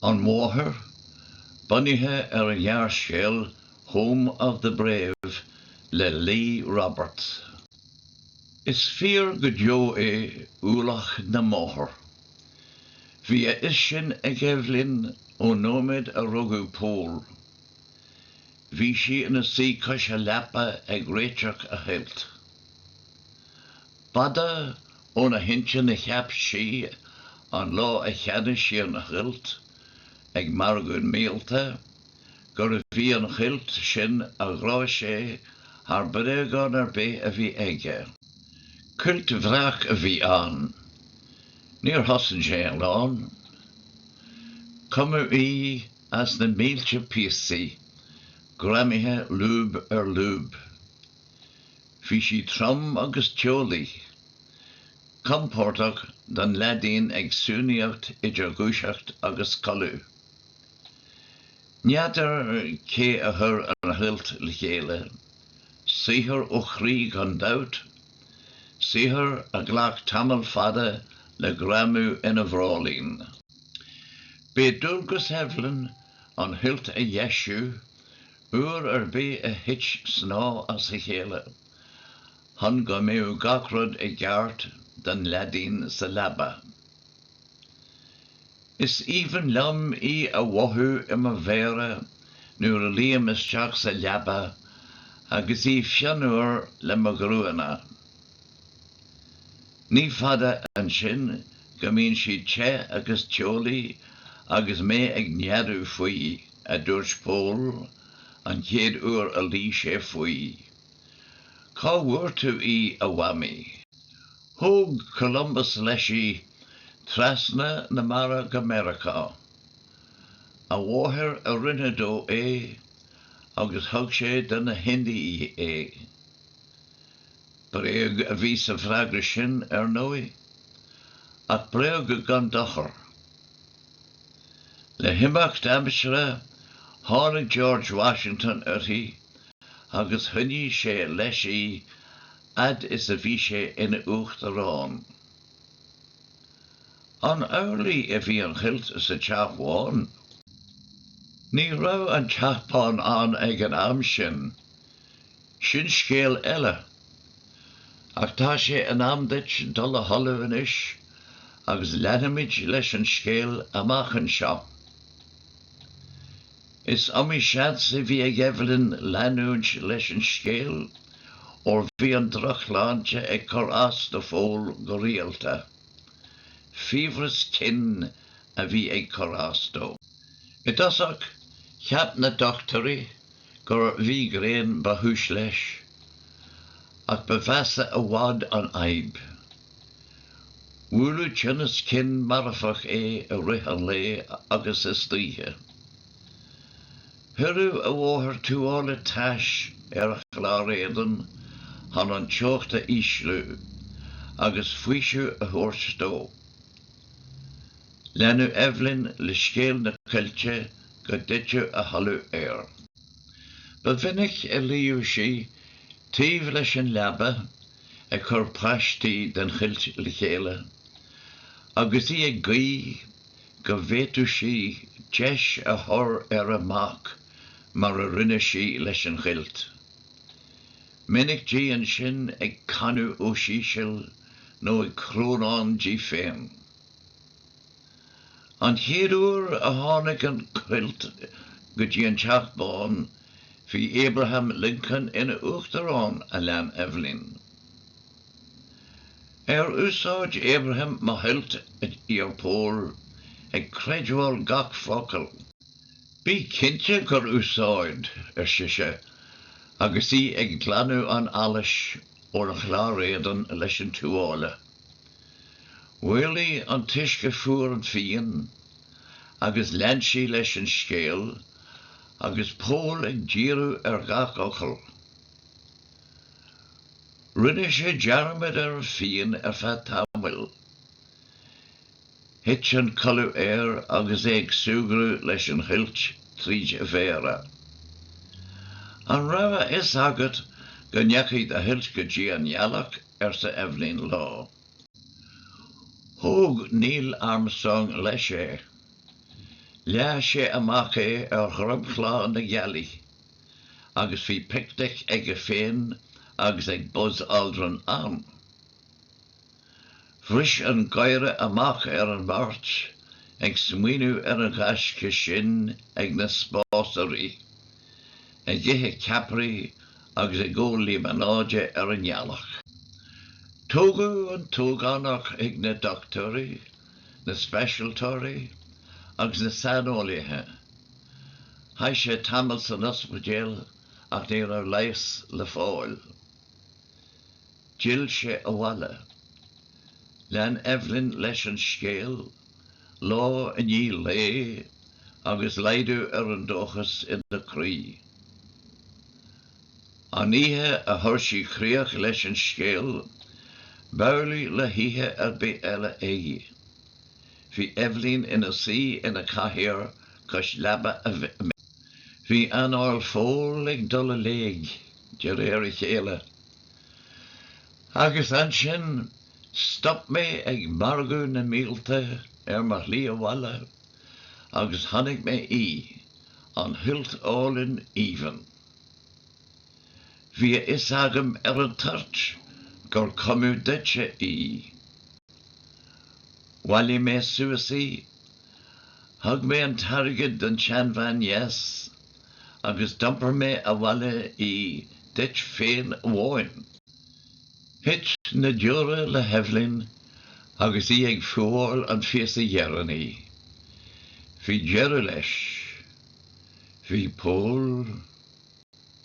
An Mháthair, bunaithe ar an ghearrscéal 'Home of the Brave' le Lee Roberts. Is fíor go deo é ualach na máthar. Bhí a fhios sin ag Eibhlín ón nóiméad a rugadh Pól. Bhí sí ina suí cois a leapa ag réiteach a chuilt. B'fhada óna hintinn a cheap sí an lá a cheannaigh sí an chuilt ag margadh míolta, gurbh í an chuilt sin a ghráfadh sé thar bréagán ar bith a bhí aige. Cuilt bhreac a bhí ann. Níor chosain sé a lán. Cumadh í as na mílte píosaí, greamaithe lúb ar lúb. Bhí sí trom agus teolaí, compordach don leaidín ag suanaíocht idir dhúiseacht agus codladh. N'fheadar cé a chuir an chuilt le chéile. Saothar ó chroí gan dabht, saothar a ghlac tamall fada le greamú ina bhráillín. B'é dualgas Eibhlín an chuilt a dheisiú Uair ar bith a thit snáth as a chéile chun go mbeadh gach rud i gceart don leaidín sa leaba. Is aoibhinn liom í a mhothú i mo mhéara nuair a luím isteach sa leaba agus í fionnuar le mo ghruanna. Ní fada ansin go mbíonn sí te agus teolaí agus mé ag neadú faoi. a dúirt Pól an chéad uair a luigh sé faoi. Cá bhfuair tú í, a Mhamaí? Thóg Columbus leis í trasna na mara go Meiriceá. A mháthair a rinne dó é agus thug sé do na hIndiaigh é. Bréag a bhí sa bhfreagra sin, ar ndóigh, ach bréag gan dochar. Le himeacht aimsire, tháinig George Washington uirthi agus choinnigh sé leis í fhad is a bhí sé ina Uachtarán. An amhlaidh a bhí an chuilt sa Teach Bhán? Ní raibh an Teach Bán ann ag an am sin, Sin scéal eile. Ach tá sé in am duit dul a chodladh anois agus leanfaimid leis an scéal amach anseo. Is iomaí seans a bhí ag Eibhlín leanúint leis an scéal óir bhí an drochshláinte ag cur as do Phól go rialta. Fiabhras cinn a bhí ag cur as dó. I dtosach, cheap na dochtúirí gur mhígréin ba chúis leis, ach ba mheasa i bhfad an fhadhb. Bhuaileadh tinneas cinn marfach é i rith an lae agus istoíche. Chuireadh a mháthair tuáille tais ar a chlár éadain chun an teocht a ísliú agus faoiseamh a thabhairt dó. Leanadh Eibhlín le scéal na coillte go dtuiteadh a chodladh air. Ba mhinic a luíodh sí taobh leis an leaba ag cur paistí den chuilt le chéile, agus í ag guí go bhféadfadh sí deis a chur ar a mac mar a rinne sí leis an chuilt. Minic di ansin ag canadh os íseal nó ag crónán di féin. An chéad uair a tháinig an chuilt go dtí an Teach Bán bhí Abraham Lincoln ina Uachtarán, a lean Eibhlín. Ar úsáid Abraham mo chuilt, ar Pól, ag creidbheáil gach focal. Bí cinnte gur úsáid, ar sise, agus í ag glanadh an allais óna chlár éadain leis an tuáille. Mhaolaigh an t-uisce fuar an phian agus lean sí leis an scéal agus Pól ag díriú ar gach fhocal. Rinne sé dearmad ar an phian ar feadh tamaill. Thit an codladh air agus é ag súgradh leis an chuilt tríd a mhéara. An raibh a fhios agat go ndeachaigh do chuilt go dtí an ngealach? arsa Eibhlín lá. Thóg Neil Armstrong leis é. Leath sé amach é ar dhromchla na gealaí agus bhí picnic aige féin agus ag Buzz Aldrin ann. Bhris an gáire amach ar an mbeirt ag smaoineamh ar an ghaisce sin ag na spásairí, ag ithe ceapairí agus ag ól líomanáide ar an ngealach. Tógadh an t-ógánach ag na dochtúirí, na speisialtóirí agus na saineolaithe. Chaith sé tamall san ospidéal ach ní raibh leigheas le fáil. D'fhill sé abhaile. Lean Eibhlín leis an scéal, lá i ndiaidh lae, agus laghdú ar an dóchas ina croí. An oíche a chuir sí críoch leis an scéal, b'amhlaidh le hoíche ar bith eile í. Bhí Eibhlín ina suí ina cathaoir cois leaba a mic. Bhí anáil Phóil ag dul i léig, de réir a chéile, Agus ansin, stop mé ag margadh na mílte ar mo shlí abhaile, agus chonaic mé í, an chuilt álainn aoibhinn. Bhí a fhios agam ar an toirt gur cumadh duitse í. Bhailigh mé suas í, thug mé an t-airgead don tseanbhean dheas, agus d'iompair mé abhaile í duit féin amháin. Thit na deora le hEibhlín agus í ag fuáil an phíosa dheireanaí. Bhí deireadh leis. Bhí Pól.